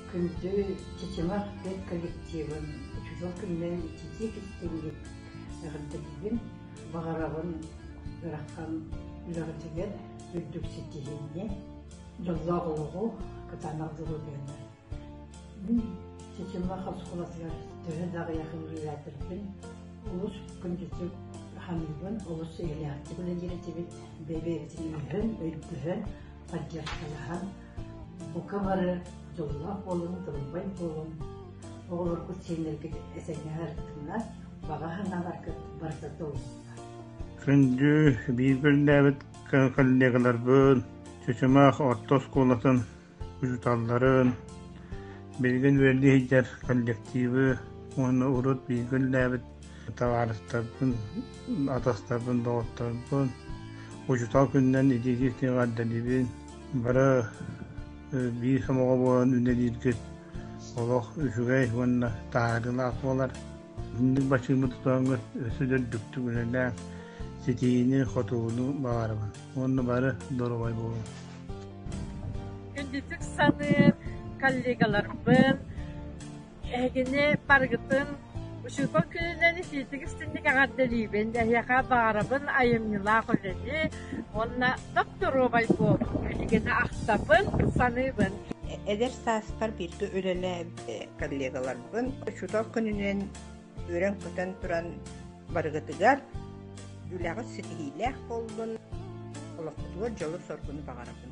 Күндү Чычымах түөрт коллективын учугэй күннээн иччитии кистиҥҥин эҕэрдэлиибин, баҕарабын ыарахан үрэҕичигэр үрдүк ситиһиини, дьоллоох олоҕу кытаанах дьулургуйаны. Мин Чычымах оскуолатыгар төһө да аҕыйах үөрүүлээтэхпин, олус күндүтүк саныыбын, олус эйэлээхтик үлэлиир этибит, бэйэ-бэйэтин өйдөһөн, поддержкалаһан, Бука бары дьоллоох буолуҥ, тылбай буолуҥ, оҕолоргут сиэннэргит этэҥҥэ сырыттыннар, баҕа санааларгыт барыта толуктар. Күндү биир күндээбит коллегаларбын, чычымах орто оскуолатын учууталларын, билигин үөрдүү сылдьар коллективы уонна урут биир күндээбит табаарыстарбын, атастарбын, доҕотторбун, учуутал күнүнэн итии тиҕэрдэлибин, бары биир сомоҕо буолан үлэлииргит олох үчүгэй уонна таһаарыылаах буолар. Итинник бачыымы тутуоҥҥут өссө дөрдүктүк үлэлээҥ, ситиини-хотууну баҕарабын уонна бары доруобай буолуҥ. Үндүтүк саныыр коллегаларбын Эһигини барыгытын учуутал күнүнэн итиитик-истиҥник эҕэрдэлиибин, эһиэхэ баҕарабын айымньылаах үлэни уонна доптуруобай буолуу билигин ахтабын, саныыбын. Эдэр сааспар бииргэ үлэлээбит коллегаларбын учуутал күнүнэн үөрэн-көтөн туран барыгытыгар үлэҕит ситиһиилээх буоллун, олоххутугар дьолу-соргуну баҕарабын.